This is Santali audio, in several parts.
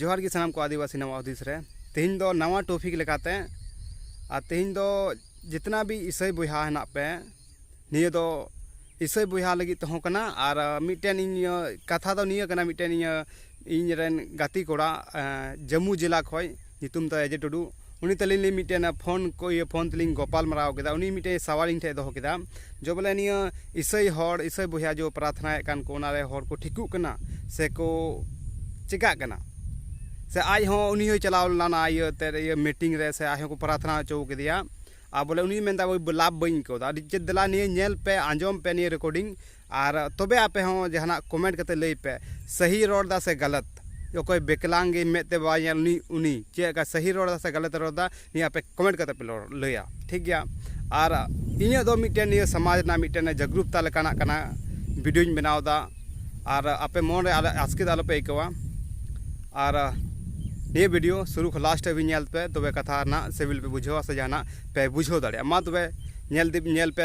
ᱡᱚᱦᱟᱨ ᱜᱮ ᱥᱟᱱᱟᱢ ᱠᱚ ᱟᱹᱫᱤᱵᱟᱹᱥᱤ ᱱᱟᱣᱟ ᱦᱩᱫᱤᱥ ᱨᱮ ᱛᱮᱦᱮᱧ ᱫᱚ ᱱᱟᱣᱟ ᱴᱚᱯᱤᱠ ᱞᱮᱠᱟᱛᱮ ᱟᱨ ᱛᱮᱦᱮᱧ ᱫᱚ ᱡᱤᱛᱱᱟ ᱵᱤ ᱤᱥᱟᱹᱭ ᱵᱚᱭᱦᱟ ᱦᱮᱱᱟᱜ ᱯᱮ ᱱᱤᱭᱟᱹ ᱫᱚ ᱤᱥᱟᱹᱭ ᱵᱚᱭᱦᱟ ᱞᱟᱹᱜᱤᱫ ᱛᱮᱦᱚᱸ ᱠᱟᱱᱟ ᱟᱨ ᱢᱤᱫᱴᱮᱱ ᱤᱧ ᱠᱟᱛᱷᱟ ᱫᱚ ᱱᱤᱭᱟᱹ ᱠᱟᱱᱟ ᱢᱤᱫᱴᱮᱱ ᱤᱧ ᱤᱧ ᱨᱮᱱ ᱜᱟᱛᱮ ᱠᱚᱲᱟ ᱡᱟᱹᱢᱩ ᱡᱮᱞᱟ ᱠᱷᱚᱱ ᱧᱩᱛᱩᱢ ᱛᱟᱭ ᱟᱡᱮ ᱴᱩᱰᱩ ᱩᱱᱤ ᱛᱟᱹᱞᱤᱧ ᱞᱤᱧ ᱢᱤᱫᱴᱮᱱ ᱯᱷᱳᱱ ᱠᱚ ᱤᱭᱟᱹ ᱯᱷᱳᱱ ᱛᱮᱞᱤᱧ ᱜᱚᱯᱟᱞ ᱢᱟᱨᱟᱣ ᱠᱮᱫᱟ ᱩᱱᱤ ᱢᱤᱫᱴᱮᱱ ᱥᱟᱶᱟᱨ ᱤᱧ ᱴᱷᱮᱱ ᱫᱚᱦᱚ ᱠᱮᱫᱟ ᱡᱮ ᱵᱚᱞᱮ ᱱᱤᱭᱟᱹ ᱤᱥᱟᱹᱭ ᱦᱚᱲ ᱤᱥᱟᱹᱭ ᱵᱚᱭᱦᱟ ᱡᱮ ᱯᱨᱟᱨᱛᱷᱱᱟᱭᱮᱫ ᱠᱟᱱ ᱠᱚ ᱚᱱᱟ ᱨᱮ ᱦᱚᱲ ᱠᱚ ᱴᱷᱤᱠᱚᱜ ᱠᱟᱱᱟ ᱥᱮ ᱠᱚ ᱪᱤᱠᱟᱹᱜ ᱠᱟᱱᱟ ᱥᱮ ᱟᱡ ᱦᱚᱸ ᱩᱱᱤ ᱦᱚᱸᱭ ᱪᱟᱞᱟᱣ ᱞᱮᱱᱟ ᱤᱭᱟᱹ ᱛᱮ ᱤᱭᱟᱹ ᱢᱤᱴᱤᱝ ᱨᱮ ᱥᱮ ᱟᱡ ᱦᱚᱸ ᱠᱚ ᱯᱨᱟᱨᱛᱷᱱᱟ ᱦᱚᱪᱚ ᱠᱮᱫᱮᱭᱟ ᱟᱨ ᱵᱚᱞᱮ ᱩᱱᱤ ᱢᱮᱱᱫᱟᱭ ᱞᱟᱵᱷ ᱵᱟᱹᱧ ᱟᱹᱭᱠᱟᱹᱣᱫᱟ ᱟᱹᱰᱤ ᱪᱮᱫ ᱫᱮᱞᱟ ᱱᱤᱭᱟᱹ ᱧᱮᱞ ᱯᱮ ᱟᱸᱡᱚᱢ ᱯᱮ ᱱᱤᱭᱟᱹ ᱨᱮᱠᱳᱰᱤᱝ ᱟᱨ ᱛᱚᱵᱮ ᱟᱯᱮ ᱦᱚᱸ ᱡᱟᱦᱟᱱᱟᱜ ᱠᱚᱢᱮᱱᱴ ᱠᱟᱛᱮ ᱞᱟᱹᱭ ᱯᱮ ᱥᱟᱹᱦᱤ ᱨᱚᱲ ᱫᱟ ᱥᱮ ᱜᱟᱞᱟᱛ ᱚᱠᱚᱭ ᱵᱮᱠᱞᱟᱝ ᱜᱮ ᱢᱮᱫ ᱛᱮ ᱵᱟᱭ ᱧᱮᱞ ᱩᱱᱤ ᱩᱱᱤ ᱪᱮᱫ ᱞᱮᱠᱟ ᱥᱟᱹᱦᱤ ᱨᱚᱲ ᱫᱟ ᱥᱮ ᱜᱟᱞᱟᱛ ᱨᱚᱲ ᱫᱟ ᱱᱤᱭᱟᱹ ᱟᱯᱮ ᱠᱚᱢᱮᱱᱴ ᱠᱟᱛᱮ ᱯᱮ ᱞᱟᱹᱭᱟ ᱴᱷᱤᱠ ᱜᱮᱭᱟ ᱟᱨ ᱤᱧᱟᱹᱜ ᱫᱚ ᱢᱤᱫᱴᱮᱱ ᱱᱤᱭᱟᱹ ᱥᱚᱢᱟᱡᱽ ᱨᱮᱱᱟᱜ ᱢᱤᱫᱴᱮᱱ ᱡᱟᱜᱽᱨᱩᱠᱛᱟ ᱞᱮᱠᱟᱱᱟᱜ ᱠᱟᱱᱟ ᱵᱷᱤᱰᱤᱭᱳᱧ ᱵᱮᱱᱟᱣ ᱫᱟ ᱟᱨ ᱟᱯᱮ ᱢᱚᱱ ᱨᱮ ᱟᱥᱠᱮᱛ ᱟᱞᱚ ᱯᱮ ᱟᱹᱭᱠᱟᱹᱣᱟ ᱟᱨ ᱱᱤᱭᱟᱹ ᱵᱷᱤᱰᱤᱭᱳ ᱥᱩᱨᱩ ᱠᱷᱚᱱ ᱞᱟᱥᱴ ᱦᱟᱹᱵᱤᱡ ᱧᱮᱞ ᱯᱮ ᱛᱚᱵᱮ ᱠᱟᱛᱷᱟ ᱨᱮᱱᱟᱜ ᱥᱤᱵᱤᱞ ᱯᱮ ᱵᱩᱡᱷᱟᱹᱣᱟ ᱥᱮ ᱡᱟᱦᱟᱱᱟᱜ ᱯᱮ ᱵᱩᱡᱷᱟᱹᱣ ᱫᱟᱲᱮᱭᱟᱜᱼᱟ ᱢᱟ ᱛᱚᱵᱮ ᱧᱮᱞ ᱯᱮ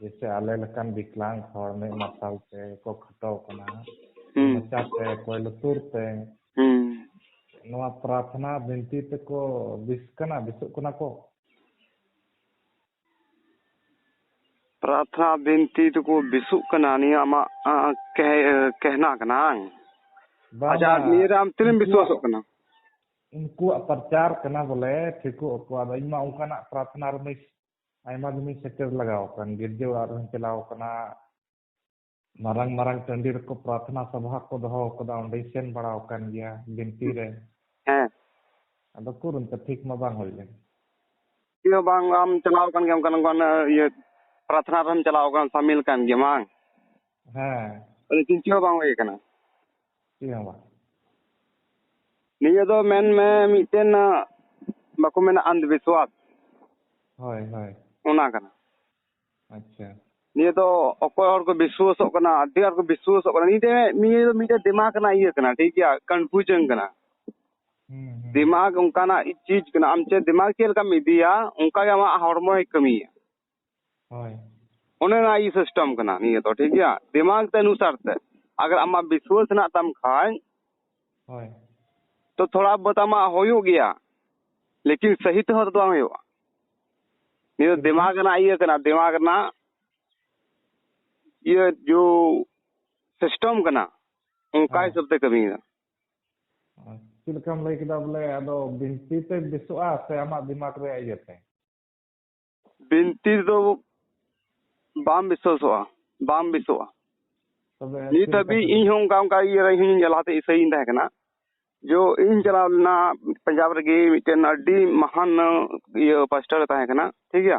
ᱡᱮᱭᱥᱮ ᱟᱞᱮ ᱞᱮᱠᱟᱱ ᱵᱤᱠᱞᱟᱝ ᱦᱚᱲ ᱢᱮᱫ ᱢᱟᱨᱥᱟᱞ ᱛᱮ ᱠᱚ ᱠᱷᱟᱴᱟᱣ ᱠᱟᱱᱟ ᱢᱚᱪᱟ ᱛᱮ ᱚᱠᱚᱭ ᱞᱩᱛᱩᱨ ᱛᱮ ᱱᱚᱣᱟ ᱯᱨᱟᱨᱛᱷᱱᱟ ᱵᱤᱱᱛᱤ ᱛᱮᱠᱚ ᱵᱤᱥ ᱠᱟᱱᱟ ᱵᱤᱥᱚᱜ ᱠᱟᱱᱟ ᱠᱚ ᱯᱨᱟᱨᱛᱷᱱᱟ ᱵᱤᱱᱛᱤ ᱛᱮᱠᱚ ᱵᱤᱥᱚᱜ ᱠᱟᱱᱟ ᱱᱤᱭᱟᱹ ᱟᱢᱟᱜ ᱠᱮᱦᱱᱟ ᱠᱟᱱᱟ ᱵᱟᱝ ᱟᱪᱪᱷᱟ ᱱᱤᱭᱟᱹ ᱨᱮ ᱟᱢ ᱛᱤᱱᱟᱹᱜ ᱵᱤᱥᱣᱟᱥᱚᱜ ᱠᱟᱱᱟ ᱩᱱᱠᱩᱣᱟᱜ ᱯᱨᱚᱪᱟᱨ ᱠᱟᱱᱟ ᱵᱚᱞᱮ ᱴᱷᱤᱠᱚᱜ ᱟᱠᱚ ᱟᱫᱚ ᱤᱧ ᱢᱟ ᱚᱱᱠᱟᱱᱟᱜ ᱯᱨᱟᱨᱛᱷᱱᱟ ᱨᱮ ᱟᱭᱢᱟ ᱫᱤᱱᱤᱧ ᱥᱮᱴᱮᱨ ᱞᱟᱜᱟᱣ ᱟᱠᱟᱱ ᱜᱤᱨᱡᱟᱹ ᱚᱲᱟᱜ ᱨᱮᱦᱚᱸᱧ ᱪᱟᱞᱟᱣ ᱟᱠᱟᱱᱟ ᱢᱟᱨᱟᱝ ᱢᱟᱨᱟᱝ ᱴᱟᱺᱰᱤ ᱨᱮᱠᱚ ᱯᱨᱟᱨᱛᱷᱱᱟ ᱥᱚᱵᱷᱟ ᱠᱚ ᱫᱚᱦᱚ ᱟᱠᱟᱫᱟ ᱚᱸᱰᱮᱧ ᱥᱮᱱ ᱵᱟᱲᱟ ᱟᱠᱟᱱ ᱜᱮᱭᱟ ᱵᱤᱱᱛᱤ ᱨᱮ ᱦᱮᱸ ᱟᱫᱚ ᱩᱠᱩᱨ ᱚᱱᱠᱟ ᱴᱷᱤᱠ ᱢᱟ ᱵᱟᱝ ᱦᱩᱭ ᱞᱮᱱ ᱪᱮᱫ ᱦᱚᱸ ᱵᱟᱝ ᱟᱢ ᱪᱟᱞᱟᱣ ᱟᱠᱟᱱ ᱜᱮᱭᱟ ᱚᱱᱠᱟᱱ ᱚᱱᱠᱟᱱ ᱤᱭᱟᱹ ᱯᱨᱟᱨᱛᱷᱱᱟ ᱨᱮᱦᱚᱸᱢ ᱪᱟᱞᱟᱣ ᱟᱠᱟᱱ ᱥᱟᱢᱤᱞ ᱠᱟᱱ ᱜᱮᱭᱟ ᱵᱟᱝ ᱦᱮᱸ ᱟᱫᱚ ᱪᱮᱫ ᱦᱚᱸ ᱵᱟᱝ ᱦᱩᱭ ᱟᱠᱟᱱᱟ ᱪᱮᱫ ᱦᱚᱸ ᱵᱟᱝ ᱱᱤᱭᱟᱹ ᱫᱚ ᱢᱮᱱ ᱢᱮ ᱢᱤᱫᱴᱮᱱ ᱵᱟᱠᱚ ᱢᱮᱱᱟ ᱟᱱᱫᱷ ᱵᱤᱥᱣᱟᱥ ᱦᱳᱭ ᱦᱳᱭ ᱚᱱᱟ ᱠᱟᱱᱟ ᱟᱪᱪᱷᱟ ᱱᱤᱭᱟᱹ ᱫᱚ ᱚᱠᱚᱭ ᱦᱚᱲ ᱠᱚ ᱵᱤᱥᱣᱟᱥᱚᱜ ᱠᱟᱱᱟ ᱟᱹᱰᱤ ᱟᱸᱴ ᱠᱚ ᱵᱤᱥᱣᱟᱥᱚᱜ ᱠᱟᱱᱟ ᱱᱤᱭᱟᱹ ᱱᱤᱭᱟᱹ ᱫᱚ ᱢᱤᱫᱴᱮᱱ ᱫᱤᱢᱟᱜᱽ ᱨᱮᱱᱟᱜ ᱤᱭᱟᱹ ᱠᱟᱱᱟ ᱴᱷᱤᱠ ᱜᱮᱭᱟ ᱠᱚᱱᱯᱷᱤᱭᱩᱡᱚᱱ ᱠᱟᱱᱟ ᱫᱤᱢᱟᱜᱽ ᱚᱱᱠᱟᱱᱟᱜ ᱪᱤᱡᱽ ᱠᱟᱱᱟ ᱟᱢ ᱪᱮᱫ ᱫᱤᱢᱟᱜᱽ ᱪᱮᱫ ᱞᱮᱠᱟᱢ ᱤᱫᱤᱭᱟ ᱚᱱᱠᱟᱜᱮ ᱟᱢᱟᱜ ᱦᱚᱲᱢᱚᱭ ᱠᱟᱹᱢᱤᱭᱟ ᱦᱳᱭ ᱚᱱᱮ ᱚᱱᱟ ᱤᱭᱟᱹ ᱥᱤᱥᱴᱮᱢ ᱠᱟᱱᱟ ᱱᱤᱭᱟᱹ ᱫᱚ ᱴᱷᱤᱠ ᱜᱮᱭᱟ ᱫᱤᱢᱟᱜᱽ ᱛᱮ ᱚᱱᱩᱥᱟᱨ ᱛᱮ ᱟᱜᱟᱨ ᱟᱢᱟᱜ ᱵᱤᱥᱣᱟᱥ ᱦᱮᱱᱟᱜ ᱛᱟᱢ ᱠᱷᱟᱱ ᱦᱳᱭ ᱛᱚ ᱛᱷᱚᱲᱟ ᱵᱚᱦᱩᱛ ᱟᱢᱟᱜ ᱦᱩᱭᱩᱜ ᱜᱮᱭᱟ ᱞᱮᱠᱤᱱ ᱥᱟᱹᱦᱤ ᱛᱮᱦᱚᱸ ᱛᱚ ᱵᱟᱝ ᱦᱩᱭᱩᱜᱼᱟ ᱱᱤᱭᱟᱹ ᱫᱚ ᱫᱤᱢᱟᱜᱽ ᱨᱮᱱᱟᱜ ᱤᱭᱟᱹ ᱠᱟᱱᱟ ᱫᱤᱢᱟᱜᱽ ᱨᱮᱱᱟᱜ ᱤᱭᱟᱹ ᱡᱳ ᱥᱤᱥᱴᱮᱢ ᱠᱟᱱᱟ ᱚᱱᱠᱟ ᱦᱤᱥᱟᱹᱵ ᱛᱮ ᱠᱟᱹᱢᱤᱭᱮᱫᱟ ᱪᱮᱫ ᱞᱮᱠᱟᱢ ᱞᱟᱹᱭ ᱠᱮᱫᱟ ᱵᱚᱞᱮ ᱟᱫᱚ ᱵᱤᱱᱛᱤ ᱛᱮ ᱵᱮᱥᱚᱜᱼᱟ ᱥᱮ ᱟᱢᱟᱜ ᱫᱤᱢᱟᱜᱽ ᱨᱮᱭᱟᱜ ᱤᱭᱟᱹᱛᱮ ᱵᱤᱱᱛᱤ ᱫᱚ ᱵᱟᱝ ᱵᱤᱥᱚᱥᱚᱜᱼᱟ ᱵᱟᱝ ᱵᱤᱥᱚᱜᱼᱟ ᱱᱤᱛ ᱦᱟᱹᱵᱤᱡ ᱤᱧ ᱦᱚᱸ ᱚᱱᱠᱟ ᱚᱱᱠᱟ ᱤᱭᱟᱹ ᱨᱮ ᱤᱧ ᱞᱟᱦᱟᱛᱮ ᱤᱥᱟᱹᱭᱤᱧ ᱛᱟᱦᱮᱸ ᱠᱟᱱᱟ ᱡᱚ ᱤᱧ ᱪᱟᱞᱟᱣ ᱞᱮᱱᱟ ᱯᱟᱧᱡᱟᱵᱽ ᱨᱮᱜᱮ ᱢᱤᱫᱴᱮᱱ ᱟᱹᱰᱤ ᱢᱟᱦᱟᱱ ᱤᱭᱟᱹ ᱯᱟᱥᱴᱟᱨ ᱛᱟᱦᱮᱸ ᱠᱟᱱᱟ ᱴᱷᱤᱠ ᱜᱮᱭᱟ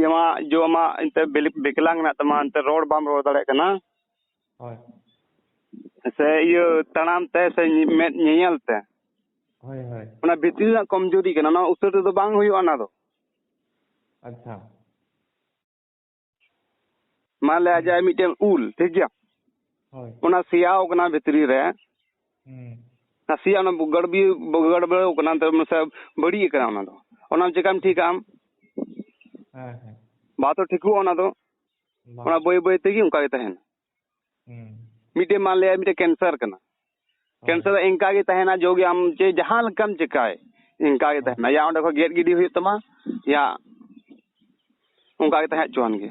ᱡᱮ ᱢᱟ ᱡᱚ ᱢᱟ ᱮᱱᱛᱮ ᱵᱮᱠᱞᱟᱝ ᱢᱮᱱᱟᱜ ᱛᱟᱢᱟ ᱮᱱᱛᱮ ᱨᱚᱲ ᱵᱟᱢ ᱨᱚᱲ ᱫᱟᱲᱮᱭᱟᱜ ᱠᱟᱱᱟ ᱦᱳᱭ ᱥᱮ ᱤᱭᱟᱹ ᱛᱟᱲᱟᱢ ᱛᱮ ᱥᱮ ᱢᱮᱫ ᱧᱮᱧᱮᱞ ᱛᱮ ᱦᱳᱭ ᱦᱳᱭ ᱚᱱᱟ ᱵᱷᱤᱛᱨᱤ ᱨᱮᱱᱟᱜ ᱠᱚᱢᱡᱳᱨᱤ ᱠᱟᱱᱟ ᱚᱱᱟ ᱩᱥᱟᱹᱨᱟ ᱛᱮᱫᱚ ᱵᱟᱝ ᱦᱩᱭᱩᱜᱼᱟ ᱚᱱᱟ ᱫᱚ ᱟᱪᱪᱷᱟ ᱢᱟᱱᱞᱮ ᱟᱡᱟᱜ ᱢᱤᱫᱴᱮᱱ ᱩᱞ ᱴᱷᱤᱠ ᱜᱮᱭᱟ ᱦᱳᱭ ᱚᱱᱟ ᱥᱮᱭᱟᱣ ᱠᱟᱱᱟ ᱵᱷᱤᱛᱨᱤ ᱨᱮ ᱱᱟᱥᱮᱭᱟᱜ ᱚᱱᱟ ᱜᱟᱲᱵᱤ ᱜᱟᱲᱵᱟᱹᱲᱟᱹᱣ ᱠᱟᱱᱟ ᱱᱮᱛᱟᱨ ᱱᱟᱥᱮ ᱵᱟᱹᱲᱤᱡ ᱟᱠᱟᱱᱟ ᱚᱱᱟ ᱫᱚ ᱚᱱᱟ ᱪᱮᱠᱟᱢ ᱴᱷᱤᱠᱟ ᱟᱢ ᱦᱮᱸ ᱦᱮᱸ ᱵᱟ ᱛᱚ ᱴᱷᱤᱠᱚᱜᱼᱟ ᱚᱱᱟ ᱫᱚ ᱚᱱᱟ ᱵᱟᱹᱭ ᱵᱟᱹᱭ ᱛᱮᱜᱮ ᱚᱱᱠᱟ ᱜᱮ ᱛᱟᱦᱮᱱᱟ ᱢᱤᱫᱴᱮᱡ ᱢᱟᱱ ᱞᱟᱹᱭᱟ ᱢᱤᱫᱴᱮᱡ ᱠᱮᱱᱥᱟᱨ ᱠᱟᱱᱟ ᱠᱮᱱᱥᱟᱨ ᱫᱚ ᱤᱱᱠᱟ ᱜᱮ ᱛᱟᱦᱮᱱᱟ ᱡᱚ ᱜᱮ ᱟᱢ ᱪᱮ ᱡᱟᱦᱟᱸ ᱞᱮᱠᱟᱢ ᱪᱮᱠᱟᱭ ᱤᱱᱠᱟ ᱜᱮ ᱛᱟᱦᱮᱱᱟ ᱭᱟ ᱚᱸᱰᱮ ᱠᱷᱚᱡ ᱜᱮᱫ ᱜᱤᱰᱤ ᱦᱩᱭᱩᱜ ᱛᱟᱢᱟ ᱭᱟ ᱚᱱᱠᱟ ᱜᱮ ᱛᱟᱦᱮᱸ ᱦᱚᱪᱚᱣᱟᱱ ᱜᱮ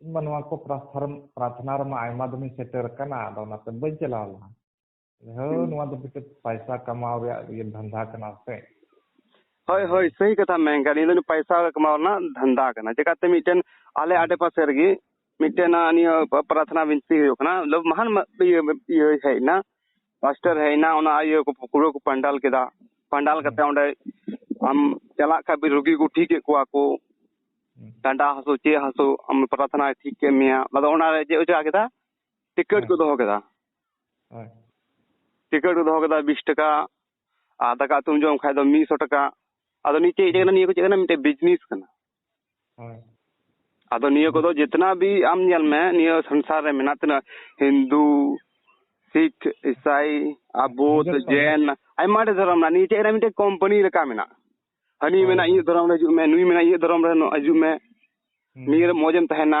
ᱤᱧ ᱢᱟ ᱱᱚᱣᱟ ᱠᱚ ᱯᱨᱟᱨᱛᱷᱱᱟ ᱨᱮᱢᱟ ᱟᱭᱢᱟ ᱫᱚᱢᱤᱧ ᱥᱮᱴᱮᱨ ᱟᱠᱟᱱᱟ ᱟᱫᱚ ᱚᱱᱟᱛᱮ ᱵᱟᱹᱧ ᱪᱟᱞᱟᱣ ᱞᱮᱱᱟ ᱦᱳ ᱱᱚᱣᱟ ᱫᱚ ᱢᱤᱫᱴᱮᱱ ᱯᱟᱭᱥᱟ ᱠᱟᱢᱟᱣ ᱨᱮᱭᱟᱜ ᱤᱭᱟᱹ ᱫᱷᱟᱱᱫᱟ ᱠᱟᱱᱟ ᱥᱮ ᱦᱳᱭ ᱦᱳᱭ ᱥᱟᱹᱦᱤ ᱠᱟᱛᱷᱟ ᱢᱮᱱ ᱠᱟᱜ ᱱᱤᱭᱟᱹ ᱫᱚ ᱯᱟᱭᱥᱟ ᱠᱟᱢᱟᱣ ᱨᱮᱱᱟᱜ ᱫᱷᱟᱱᱫᱟ ᱠᱟᱱᱟ ᱪᱮᱠᱟᱛᱮ ᱢᱤᱫᱴᱮᱱ ᱟᱞᱮ ᱟᱰᱮ ᱯᱟᱥᱮ ᱨᱮᱜᱮ ᱢᱤᱫᱴᱮᱱ ᱱᱤᱭᱟᱹ ᱯᱨᱟᱨᱛᱷᱱᱟ ᱵᱤᱱᱛᱤ ᱦᱩᱭᱩᱜ ᱠᱟᱱᱟ ᱢᱟᱦᱟᱱ ᱤᱭᱟᱹ ᱦᱮᱡ ᱮᱱᱟ ᱯᱟᱥᱴᱟᱨ ᱦᱮᱡ ᱮᱱᱟ ᱚᱱᱟ ᱤᱭᱟᱹ ᱠᱚ ᱯᱩᱨᱟᱹ ᱠᱚ ᱯᱟᱱᱰᱟᱞ ᱠᱮᱫᱟ ᱯᱟᱱᱰᱟᱞ ᱠᱟᱛᱮ ᱚᱸᱰᱮ ᱟᱢ ᱪᱟᱞᱟᱜ ᱠᱷᱟᱡ ᱵᱤ ᱨᱩᱜᱤ ᱠᱚ ᱴᱷᱤᱠᱮᱫ ᱠᱚᱣᱟ ᱠᱚ ᱰᱟᱸᱰᱟ ᱦᱟᱹᱥᱩ ᱪᱮᱫ ᱦᱟᱹᱥᱩ ᱟᱢ ᱯᱨᱟᱨᱛᱷᱱᱟᱭ ᱴᱷᱤᱠ ᱠᱮᱫ ᱢᱮᱭᱟ ᱟᱫᱚ ᱚᱱᱟᱨᱮ ᱪᱮᱫ ᱠᱚ ᱪᱟᱞᱟᱣ ᱠᱮᱫᱟ ᱴᱤᱠᱤᱴ ᱠᱚ ᱫᱚᱦᱚ ᱠᱮᱫᱟ ᱦᱳᱭ ᱴᱤᱠᱤᱴ ᱠᱚ ᱫᱚᱦᱚ ᱠᱮᱫᱟ ᱵᱤᱥ ᱴᱟᱠᱟ ᱟᱨ ᱫᱟᱠᱟ ᱩᱛᱩᱢ ᱡᱚᱢ ᱠᱷᱟᱡ ᱫᱚ ᱢᱤᱫ ᱥᱚ ᱴᱟᱠᱟ ᱟᱫᱚ ᱱᱤᱭᱟᱹ ᱪᱮᱫ ᱠᱟᱱᱟ ᱱᱤᱭᱟᱹ ᱠᱚ ᱪᱮᱫ ᱠᱟᱱᱟ ᱢᱤᱫᱴᱮᱡ ᱵᱤᱡᱽᱱᱮᱥ ᱠᱟᱱᱟ ᱟᱫᱚ ᱱᱤᱭᱟᱹ ᱠᱚᱫᱚ ᱡᱮᱛᱱᱟ ᱵᱤ ᱟᱢ ᱧᱮᱞ ᱢᱮ ᱱᱤᱭᱟᱹ ᱥᱚᱝᱥᱟᱨ ᱨᱮ ᱢᱮᱱᱟᱜ ᱛᱤᱱᱟᱹ ᱦᱤᱱᱫᱩ ᱥᱤᱠ ᱤᱥᱟᱭ ᱟᱵᱚᱫ ᱡᱮᱱ ᱟᱭᱢᱟ ᱰᱷᱮᱨ ᱫᱷᱚᱨᱚᱢ ᱢᱮᱱᱟᱜᱼᱟ ᱱᱤᱭᱟᱹ ᱪᱮᱫ ᱨᱮ ᱢᱤᱫᱴᱮᱡ ᱠᱳᱢᱯᱟᱱᱤ ᱞᱮᱠᱟ ᱢᱮᱱᱟᱜᱼᱟ ᱦᱟᱹᱱᱤ ᱢᱮᱱᱟ ᱤᱧᱟᱹᱜ ᱫᱷᱚᱨᱚᱢ ᱨᱮ ᱦᱤᱡᱩᱜ ᱢᱮ ᱱᱩᱭ ᱢᱮᱱᱟ ᱤᱧᱟᱹᱜ ᱫᱷᱚᱨᱚᱢ ᱨᱮ ᱦᱤᱡᱩᱜ ᱢᱮ ᱱᱤᱭᱟᱹ ᱨᱮ ᱢᱚᱸᱡᱽ ᱮᱢ ᱛᱟᱦᱮᱸᱱᱟ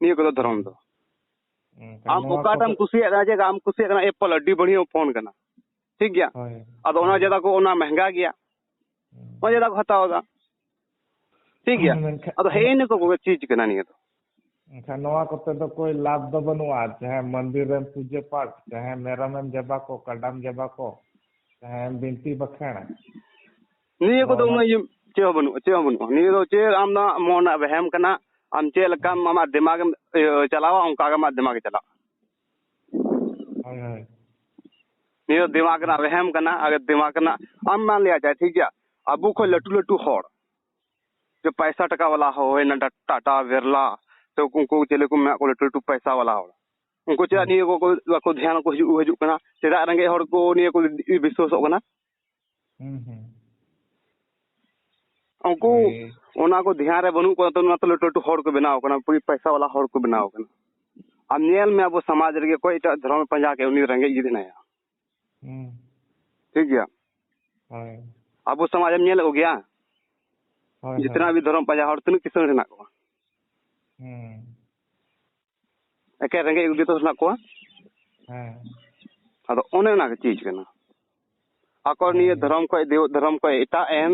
ᱱᱤᱭᱟᱹ ᱠᱚᱫᱚ ᱫᱷᱚᱨᱚᱢ ᱫᱚ ᱟᱢ ᱚᱠᱟᱴᱟᱜ ᱮᱢ ᱠᱩᱥᱤᱭᱟᱜ ᱠᱟᱱᱟ ᱡᱮ ᱟᱢ ᱠᱩᱥᱤᱭᱟᱜ ᱠᱟᱱᱟ ᱮᱯᱚᱞ ᱟᱹᱰᱤ ᱵᱟᱹᱲᱤᱭᱟᱹ ᱯᱷᱳᱱ ᱠᱟᱱᱟ ᱴᱷᱤᱠ ᱜᱮᱭᱟ ᱟᱫᱚ ᱚᱱᱟ ᱡᱟᱫᱟ ᱠᱚ ᱚᱱᱟ ᱢᱮᱦᱝᱜᱟ ᱜᱮᱭᱟ ᱚᱱᱟ ᱡᱟᱫᱟ ᱠᱚ ᱦᱟᱛᱟᱣ ᱮᱫᱟ ᱴᱷᱤᱠ ᱜᱮᱭᱟ ᱟᱫᱚ ᱦᱮᱸ ᱤᱱᱟᱹ ᱠᱚ ᱠᱚᱜᱮ ᱪᱤᱡᱽ ᱠᱟᱱᱟ ᱱᱤᱭᱟᱹ ᱫᱚ ᱮᱱᱠᱷᱟᱱ ᱱᱚᱣᱟ ᱠᱚᱛᱮ ᱫᱚ ᱠᱳᱭ ᱞᱟᱵᱷ ᱫᱚ ᱵᱟᱹᱱᱩᱜᱼᱟ ᱪᱟᱦᱮ ᱢᱚᱱᱫᱤᱨ ᱨᱮᱢ ᱯᱩᱡᱟᱹ ᱯᱟᱴ ᱪᱟᱦᱮ ᱢᱮᱨᱚᱢᱮᱢ ᱡᱟᱵᱟ ᱠᱚ ᱠᱟᱰᱟᱢ ᱡᱟᱵᱟ ᱠᱚ ᱪᱟᱦᱮ ᱵᱤᱱᱛᱤ ᱵᱟᱠᱷᱮᱬ ᱱᱤᱭᱟᱹ ᱠᱚᱫᱚ ᱩᱱᱟᱹᱜ ᱤᱭᱟᱹ ᱪᱮᱫ ᱦᱚᱸ ᱵᱟᱹᱱᱩᱜᱼᱟ ᱪᱮᱫ ᱦᱚᱸ ᱵᱟᱹᱱᱩᱜᱼᱟ ᱱᱤᱭᱟᱹ ᱫᱚ ᱪᱮᱫ ᱟᱢ ᱫᱚ ᱢᱚᱱ ᱨᱮᱱᱟᱜ ᱵᱮᱦᱮᱢ ᱠᱟᱱᱟ ᱟᱢ ᱪᱮᱫ ᱞᱮᱠᱟᱢ ᱟᱢᱟᱜ ᱫᱤᱢᱟᱜᱽ ᱮᱢ ᱪᱟᱞᱟᱣᱟ ᱚᱱᱠᱟ ᱜᱮ ᱟᱢᱟᱜ ᱫᱤᱢᱟᱜᱽ ᱪᱟᱞᱟᱜᱼᱟ ᱱᱤᱭᱟᱹ ᱫᱚ ᱫᱤᱢᱟᱜᱽ ᱨᱮᱱᱟᱜ ᱵᱮᱦᱮᱢ ᱠᱟᱱᱟ ᱟᱨ ᱫᱤᱢᱟᱜᱽ ᱨᱮᱱᱟᱜ ᱟᱢ ᱢᱟ ᱞᱟᱹᱭᱟ ᱡᱟᱭ ᱴᱷᱤᱠ ᱜᱮᱭᱟ ᱟᱵᱚ ᱠᱷᱚᱱ ᱞᱟᱹᱴᱩ ᱞᱟᱹᱴᱩ ᱦᱚᱲ ᱡᱮ ᱯᱟᱭᱥᱟ ᱴᱟᱠᱟ ᱵᱟᱞᱟ ᱦᱚᱲ ᱦᱩᱭᱱᱟ ᱴᱟᱴᱟ ᱵᱮᱨᱞᱟ ᱥᱮ ᱩᱱᱠᱩ ᱪᱮᱞᱮ ᱠᱚ ᱢᱮᱱᱟᱜ ᱠᱚᱣᱟ ᱞᱟᱹᱴᱩ ᱞᱟᱹᱴᱩ ᱯᱟᱭᱥᱟ ᱵᱟᱞᱟ ᱦᱚᱲ ᱩᱱᱠᱩ ᱪᱮᱫᱟᱜ ᱱᱤᱭᱟᱹ ᱠᱚ ᱵᱟᱠᱚ ᱫᱷᱮᱭᱟᱱ ᱠᱚ ᱦᱤᱡᱩᱜ ᱦᱤᱡᱩᱜ ᱠᱟᱱᱟ ᱪᱮᱫᱟᱜ ᱨᱮᱸᱜᱮᱡ ᱦᱚᱲ ᱠᱚ ᱱᱤᱭᱟᱹ ᱠᱚ ᱵᱤᱥᱥᱟᱹᱥᱚᱜ ᱠᱟᱱᱟ ᱩᱱᱠᱩ ᱚᱱᱟ ᱠᱚ ᱫᱷᱮᱭᱟᱱ ᱨᱮ ᱵᱟᱹᱱᱩᱜ ᱠᱚᱣᱟ ᱚᱱᱟ ᱛᱮ ᱞᱟᱹᱴᱩ ᱞᱟᱹᱴᱩ ᱦᱚᱲ ᱠᱚ ᱵᱮᱱᱟᱣ ᱠᱟᱱᱟ ᱯᱚᱭᱥᱟ ᱵᱟᱞᱟ ᱦᱚᱲ ᱠᱚ ᱵᱮᱱᱟᱣ ᱠᱟᱱᱟ ᱟᱢ ᱧᱮᱞ ᱢᱮ ᱟᱵᱚ ᱥᱚᱢᱟᱡᱽ ᱨᱮᱜᱮ ᱚᱠᱚᱭ ᱮᱴᱟᱜ ᱫᱷᱚᱨᱚᱢ ᱯᱟᱸᱡᱟ ᱠᱮᱫ ᱩᱱᱤ ᱨᱮᱸᱜᱮᱡ ᱜᱮ ᱢᱮᱱᱟᱭᱟ ᱴᱷᱤᱠ ᱜᱮᱭᱟ ᱟᱵᱚ ᱥᱚᱢᱟᱡᱽ ᱮᱢ ᱧᱮᱞ ᱠᱚ ᱜᱮᱭᱟ ᱡᱤᱛᱱᱟ ᱵᱷᱤ ᱫᱷᱚᱨᱚᱢ ᱯᱟᱸᱡᱟ ᱦᱚᱲ ᱛᱤᱱᱟᱹᱜ ᱠᱤᱥᱟᱹᱬ ᱦᱮᱱᱟᱜ ᱠᱚᱣᱟ ᱮᱠᱮᱱ ᱨᱮᱸᱜᱮᱡ ᱠᱚᱜᱮ ᱛᱚ ᱦᱮᱱᱟᱜ ᱠᱚᱣᱟ ᱦᱮᱸ ᱟᱫᱚ ᱚᱱᱮ ᱚᱱᱟ ᱜᱮ ᱪᱤᱡᱽ ᱠᱟᱱᱟ ᱟᱠᱚ ᱱᱤᱭᱟᱹ ᱫᱷᱚᱨᱚᱢ ᱠᱷᱚᱡ ᱫᱮᱣ ᱫᱷᱚᱨᱚᱢ ᱠᱷᱚᱡ ᱮᱴᱟᱜ ᱮᱱ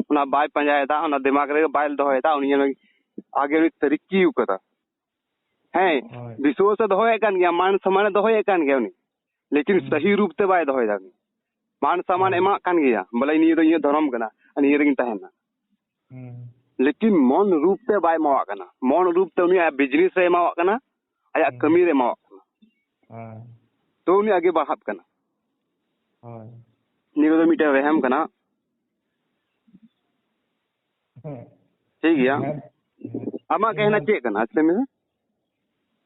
ᱚᱱᱟ ᱵᱟᱭ ᱯᱟᱸᱡᱟᱭᱮᱫᱟ ᱚᱱᱟ ᱫᱤᱢᱟᱜᱽ ᱨᱮ ᱵᱟᱭ ᱫᱚᱦᱚᱭᱮᱫᱟ ᱩᱱᱤ ᱡᱮᱱᱚ ᱟᱜᱮ ᱩᱱᱤ ᱛᱟᱹᱨᱤᱠᱤ ᱟᱠᱟᱫᱟ ᱦᱮᱸ ᱦᱳᱭ ᱵᱤᱥᱣᱟᱥᱮ ᱫᱚᱦᱚᱭᱮᱫ ᱠᱟᱱ ᱜᱮᱭᱟ ᱢᱟᱱ ᱥᱚᱢᱟᱱᱮ ᱫᱚᱦᱚᱭᱮᱫ ᱠᱟᱱ ᱜᱮᱭᱟ ᱩᱱᱤ ᱞᱮᱠᱤᱱ ᱦᱩᱸ᱾ ᱥᱟᱹᱦᱤ ᱨᱩᱯ ᱛᱮ ᱵᱟᱭ ᱫᱚᱦᱚᱭᱮᱫᱟ ᱩᱱᱤ ᱢᱟᱱ ᱥᱟᱢᱟᱱ ᱮᱢᱟᱜ ᱠᱟᱱ ᱜᱮᱭᱟ ᱵᱚᱞᱮ ᱱᱤᱭᱟᱹ ᱫᱚ ᱤᱧᱟᱹᱜ ᱫᱷᱚᱨᱚᱢ ᱠᱟᱱᱟ ᱱᱤᱭᱟᱹ ᱨᱮᱜᱤᱧ ᱛᱟᱦᱮᱱᱟ ᱞᱮᱠᱤᱱ ᱢᱚᱱ ᱨᱩᱯ ᱛᱮ ᱵᱟᱭ ᱮᱢᱟᱣᱟᱜ ᱠᱟᱱᱟ ᱢᱚᱱ ᱨᱩᱯ ᱛᱮ ᱩᱱᱤ ᱟᱭᱟᱜ ᱵᱤᱡᱽᱱᱮᱥ ᱨᱮ ᱮᱢᱟᱣᱟᱜ ᱠᱟᱱᱟ ᱟᱭᱟᱜ ᱠᱟᱹᱢᱤ ᱨᱮ ᱮᱢᱟᱣᱟᱜ ᱠᱟᱱᱟ ᱛᱚ ᱩᱱᱤ ᱟᱜᱮ ᱵᱟᱲᱦᱟᱜ ᱠᱟᱱᱟ ᱱᱤᱭᱟᱹ ᱫᱚ ᱢᱤᱫᱴᱮᱱ ᱨᱮᱦᱮᱢ ᱠᱟᱱᱟ ᱴᱷᱤᱠ ᱜᱮᱭᱟ ᱟᱢᱟᱜ ᱠᱟᱹᱦᱱᱟ ᱪᱮᱫ ᱠᱟᱱᱟ ᱟᱪᱪᱷᱟ ᱢᱮ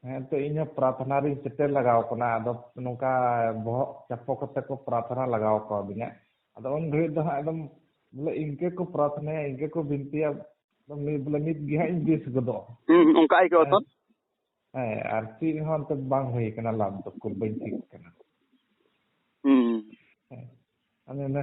ᱦᱮᱸ ᱛᱚ ᱤᱧ ᱦᱚᱸ ᱯᱨᱟᱨᱛᱷᱱᱟ ᱨᱤᱧ ᱥᱮᱴᱮᱨ ᱞᱟᱜᱟᱣ ᱠᱟᱱᱟ ᱟᱫᱚ ᱱᱚᱝᱠᱟ ᱵᱚᱦᱚᱜ ᱪᱟᱯᱚ ᱠᱟᱛᱮ ᱠᱚ ᱯᱨᱟᱨᱛᱷᱱᱟ ᱞᱟᱜᱟᱣ ᱠᱟᱣᱫᱤᱧᱟ ᱟᱫᱚ ᱩᱱ ᱜᱷᱟᱹᱲᱤᱡ ᱫᱚ ᱦᱟᱸᱜ ᱮᱠᱫᱚᱢ ᱵᱚᱞᱮ ᱤᱱᱠᱟᱹ ᱠᱚ ᱯᱨᱟᱨᱛᱷᱱᱟᱭᱟ ᱤᱱᱠᱟᱹ ᱠᱚ ᱵᱤᱱᱛᱤᱭᱟ ᱵᱚᱞᱮ ᱱᱤᱛ ᱜᱮ ᱦᱟᱸᱜ ᱤᱧ ᱵᱮᱥ ᱜᱚᱫᱚᱜ ᱦᱩᱸ ᱚᱱᱠᱟ ᱟᱹᱭᱠᱟᱹᱣ ᱛᱚ ᱦᱮᱸ ᱟᱨ ᱪᱮᱫ ᱦᱚᱸ ᱚᱱᱛᱮ ᱵᱟᱝ ᱦᱩᱭ ᱠᱟᱱᱟ ᱞᱟᱵᱷ ᱫᱚ ᱠᱚ ᱵᱟᱹᱧ ᱴᱷᱤᱠ ᱠᱟᱱᱟ ᱦᱩᱸ ᱦᱮᱸ ᱟᱫᱚ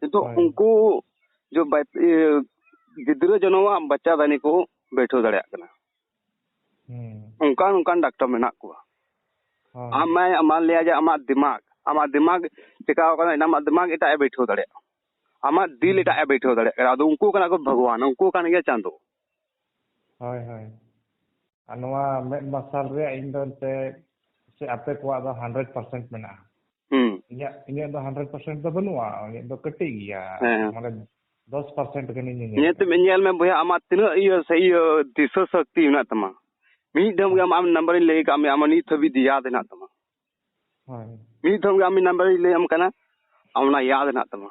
ᱱᱤᱛᱚᱜ ᱩᱱᱠᱩ ᱜᱤᱫᱽᱨᱟᱹ ᱡᱚᱱᱚᱢᱟᱜ ᱵᱟᱪᱪᱟ ᱫᱟᱱᱤ ᱠᱚ ᱵᱮᱴᱷᱟᱹᱣ ᱫᱟᱲᱮᱭᱟᱜ ᱠᱟᱱᱟ ᱚᱱᱠᱟᱱ ᱚᱱᱠᱟᱱ ᱰᱟᱠᱴᱚᱨ ᱢᱮᱱᱟᱜ ᱠᱚᱣᱟ ᱟᱢ ᱢᱟᱭ ᱟᱢᱟᱜ ᱞᱟᱹᱭᱟ ᱡᱮ ᱟᱢᱟᱜ ᱫᱤᱢᱟᱜᱽ ᱟᱢᱟᱜ ᱫᱤᱢᱟᱜᱽ ᱪᱮᱠᱟᱣ ᱠᱟᱱᱟ ᱟᱢᱟᱜ ᱫᱤᱢᱟᱜᱽ ᱮᱴᱟᱜ ᱮ ᱵᱮᱴᱷᱟᱹᱣ ᱫᱟᱲᱮᱭᱟᱜᱼᱟ ᱟᱢᱟᱜ ᱫᱤᱞ ᱮᱴᱟᱜ ᱮ ᱵᱮᱴᱷᱟᱹᱣ ᱫᱟᱲᱮᱭᱟᱜ ᱠᱟᱱᱟ ᱟᱫᱚ ᱩᱱᱠᱩ ᱠᱟᱱᱟ ᱠᱚ ᱵᱷᱟᱜᱽᱣᱟᱱ ᱩᱱᱠᱩ ᱠᱟᱱ ᱜᱮᱭᱟ ᱪᱟᱸᱫᱚ ᱦᱳᱭ ᱦᱳᱭ ᱟᱨ ᱱᱚᱣᱟ ᱢᱮᱫ ᱢᱟᱨᱥᱟᱞ ᱨᱮᱭᱟᱜ ᱤᱧ ᱫᱚ ᱮᱱᱛᱮ ᱥᱮ ᱟᱯᱮ ᱠᱚᱣᱟᱜ ᱫᱚ ᱦᱟᱱᱰᱨᱮᱰ ᱯᱟᱨᱥᱮᱱᱴ ᱢᱮᱱᱟᱜᱼᱟ ᱤᱧᱟᱹᱜ ᱤᱧᱟᱹᱜ ᱫᱚ ᱦᱟᱱᱰᱨᱮᱰ ᱯᱟᱨᱥᱮᱱᱴ ᱫᱚ ᱵᱟᱹᱱᱩᱜᱼᱟ ᱤᱧᱟᱹᱜ ᱫᱚ ᱠᱟᱹᱴᱤᱡ ᱜᱮᱭᱟ ᱢᱟᱱᱮ ᱫᱚᱥ ᱯᱟᱨᱥᱮᱱᱴ ᱜᱟᱱᱤᱧ ᱧᱮᱞ ᱛᱮ ᱧᱮᱞ ᱢᱮ ᱵᱚᱭᱦᱟ ᱟᱢᱟᱜ ᱛᱤᱱᱟᱹᱜ ᱤᱭᱟᱹ ᱥᱮ ᱤᱭᱟᱹ ᱫᱤᱥᱟᱹ ᱥᱚᱠᱛᱤ ᱢᱮᱱᱟᱜ ᱛᱟᱢᱟ ᱢᱤᱫ ᱫᱷᱟᱣ ᱜᱮ ᱟᱢ ᱱᱟᱢᱵᱟᱨᱤᱧ ᱞᱟᱹᱭ ᱠᱟᱜ ᱢᱮᱭᱟ ᱟᱢᱟᱜ ᱱᱤᱛ ᱦᱟᱹᱵᱤᱡ ᱭᱟᱫ ᱦᱮᱱᱟᱜ ᱛᱟᱢᱟ ᱢᱤᱫ ᱫᱷᱟᱣ ᱜᱮ ᱟᱢ ᱱᱟᱢᱵᱟᱨᱤᱧ ᱞᱟᱹᱭᱟᱢ ᱠᱟᱱᱟ ᱟᱢ ᱚᱱᱟ ᱭᱟᱫ ᱦᱮᱱᱟᱜ ᱛᱟᱢᱟ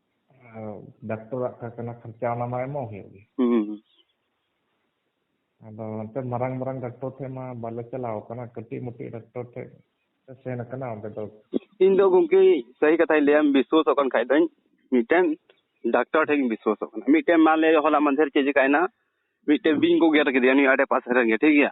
ᱰᱟᱠᱛᱚᱨᱟᱜ ᱠᱟᱱᱟ ᱠᱷᱚᱨᱪᱟ ᱚᱱᱟ ᱢᱟ ᱮᱢᱚᱜ ᱦᱩᱭᱩᱜ ᱜᱮ ᱟᱫᱚ ᱚᱱᱛᱮ ᱢᱟᱨᱟᱝ ᱢᱟᱨᱟᱝ ᱰᱟᱠᱛᱚᱨ ᱴᱷᱮᱡ ᱢᱟ ᱵᱟᱞᱮ ᱪᱟᱞᱟᱣ ᱠᱟᱱᱟ ᱠᱟᱹᱴᱤᱡ ᱢᱩᱴᱤᱡ ᱰᱟᱠᱛᱚᱨ ᱴᱷᱮᱡ ᱥᱮᱱ ᱠᱟᱱᱟ ᱚᱸᱰᱮ ᱫᱚ ᱤᱧ ᱫᱚ ᱜᱚᱝᱠᱮ ᱥᱟᱹᱦᱤ ᱠᱟᱛᱷᱟᱧ ᱞᱟᱹᱭᱟᱢ ᱵᱤᱥᱣᱟᱥᱚᱜ ᱠᱟᱱ ᱠᱷᱟᱡ ᱫᱚᱧ ᱢᱤᱫᱴᱮᱱ ᱰᱟᱠᱛᱚᱨ ᱴᱷᱮᱡ ᱤᱧ ᱵᱤᱥᱣᱟᱥᱚᱜ ᱠᱟᱱᱟ ᱢᱤᱫᱴᱮᱱ ᱢᱟᱱᱞᱮ ᱦᱚᱞᱟ ᱢᱟᱫᱷᱮᱨ ᱪᱮᱫ ᱪᱤᱠᱟᱭᱮᱱᱟ ᱢᱤᱫᱴᱮᱱ ᱵᱤᱧ ᱠᱚ ᱜᱮᱨ ᱠᱮᱫᱮᱭᱟ ᱱᱤᱭᱟᱹ ᱟᱰᱮ ᱯᱟᱥᱮ ᱨᱮᱜᱮ ᱴᱷᱤᱠ ᱜᱮᱭᱟ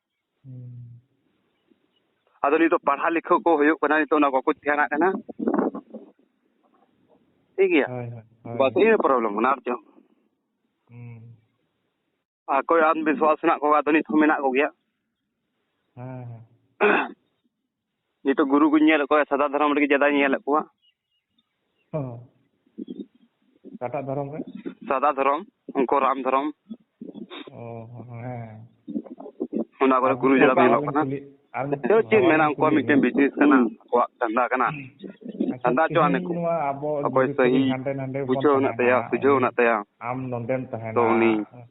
ᱟᱫᱚ ᱱᱤᱛᱚᱜ ᱯᱟᱲᱦᱟᱣ ᱞᱮᱠᱷᱟ ᱠᱚ ᱦᱩᱭᱩᱜ ᱠᱟᱱᱟ ᱱᱤᱛᱚᱜ ᱚᱱᱟ ᱵᱟᱠᱚ ᱫᱷᱮᱭᱟᱱᱟᱜ ᱠᱟᱱᱟ ᱴᱷᱤᱠ ᱜᱮᱭᱟ ᱵᱟᱥ ᱤᱱᱟᱹ ᱯᱨᱚᱵᱞᱮᱢ ᱠᱟᱱᱟ ᱟᱨ ᱪᱮᱫ ᱟᱨ ᱠᱚᱭ ᱟᱱᱫᱷᱵᱤᱥᱣᱟᱥ ᱦᱮᱱᱟᱜ ᱠᱚᱣᱟ ᱟᱫᱚ ᱱᱤᱛ ᱦᱚᱸ ᱢᱮᱱᱟᱜ ᱠᱚᱜᱮᱭᱟ ᱦᱮᱸ ᱡᱮᱦᱮᱛᱩ ᱜᱩᱨᱩ ᱠᱚᱧ ᱧᱮᱞᱮᱫ ᱠᱚᱣᱟ ᱥᱟᱫᱟ ᱫᱷᱚᱨᱚᱢ ᱨᱮᱜᱮ ᱡᱟᱫᱟᱧ ᱧᱮᱞᱮᱫ ᱠᱚᱣᱟ ᱚᱠᱟᱴᱟᱜ ᱫᱷᱚᱨᱚᱢ ᱨᱮ ᱥᱟᱫᱟ ᱫᱷᱚᱨᱚᱢ ᱩᱱᱠᱩ ᱨᱟᱢ ᱫᱷᱚᱨᱚᱢ ᱦᱮᱸ ᱚᱱᱟ ᱠᱚᱨᱮ ᱜᱩᱨᱩ ᱡᱟᱫᱟ ᱠᱚ ᱧᱮᱞᱚᱜ ᱠᱟᱱᱟ ᱪᱮᱫ ᱢᱮᱱᱟ ᱩᱱᱠᱩᱣᱟᱜ ᱢᱤᱫᱴᱮᱱ ᱵᱤᱡᱽᱱᱮᱥ ᱠᱟᱱᱟ ᱟᱠᱚᱣᱟᱜ ᱫᱷᱟᱱᱫᱟ ᱠᱟᱱᱟ ᱫᱷᱟᱱᱫᱟ ᱪᱚ ᱟᱱᱮ ᱠᱚ ᱚᱠᱚᱭ ᱥᱟᱹᱦᱤ ᱵᱩᱡᱷᱟᱹᱣ ᱢᱮᱱᱟᱜ ᱛᱟᱭᱟ ᱥᱩᱡᱷᱟᱹᱣ ᱢᱮᱱᱟᱜ ᱛᱟᱭᱟ ᱟᱢ ᱱᱚᱰᱮᱢ ᱛᱟᱦᱮᱱᱟ ᱛᱚ ᱩᱱᱤ